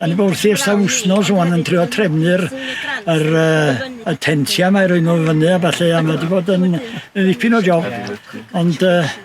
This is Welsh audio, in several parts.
Yn y wrth i'r wsnos o'n yn trio trefnu'r yr, uh, y tentia mae rwy'n nhw fyny a falle a mae wedi bod yn ddipyn o job ond uh,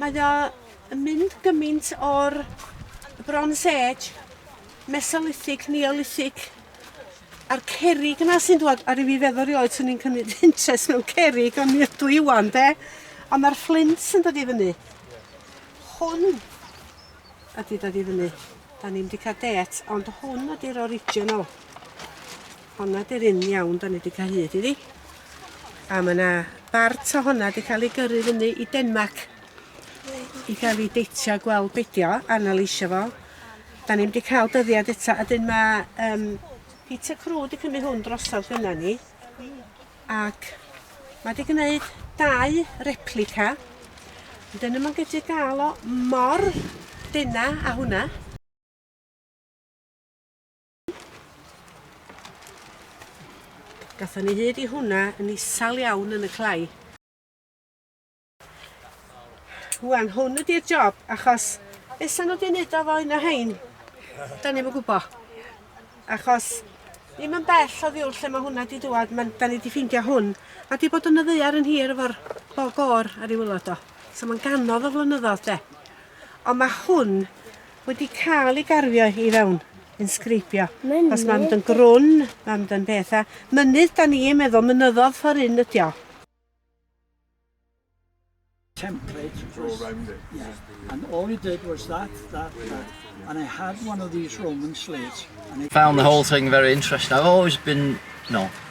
Mae o yn mynd gymint o'r Bronze Age, Mesolithic, Neolithic, a'r cerrig yna sy'n dwad, a ryw fi feddwl rioed swn i'n cymryd interest mewn cerrig, ond mi ydw i wan, de? Ond mae'r fflint yn dod i fyny. Hwn ydy dod i fyny. Da ni'n di cael det, ond hwn ydy'r original. Honna di'r un iawn 'dan ni 'di ca'l hyd iddi. A ma' 'na bart o honna 'di ca'l ei gyrru fyny i Denmarc i ga'l 'i deitio a gweld be' 'di o, analysio fo. 'Dan ni'm 'di ca'l dyddiad eto a 'dyn ma' yym Peter Crew 'di cymyd hwn drosodd gynna ni ac ma' 'di gneud dau replica ond 'dyn nw'm yn gyllu ga'l o mor dena â hwnna. Gatho ni hyd i hwnna yn isal iawn yn y clai. Rwan, hwn ydy'r job, achos beth nhw wedi wneud o fo un o hein? Da ni'n gwybod. Achos ddim yn bell o ddiwr lle mae hwnna wedi dŵad, da ni wedi ffeindio hwn, a wedi bod yn y ddeiar yn hir efo'r bog o'r ar ei wylod o. So mae'n ganodd o flynyddoedd de. Ond mae hwn Wedi cael ei garfio i fewn, inscribio. Mynydd. Os mae'n mynd yn grwn, mae'n mynd yn beth. A mynydd, da ni'n meddwl, mynyddodd ffordd un ydi o. template was, yeah, and all he did was that, that, that, and I had one of these Roman slates. And I found the whole thing very interesting. I've always been, no,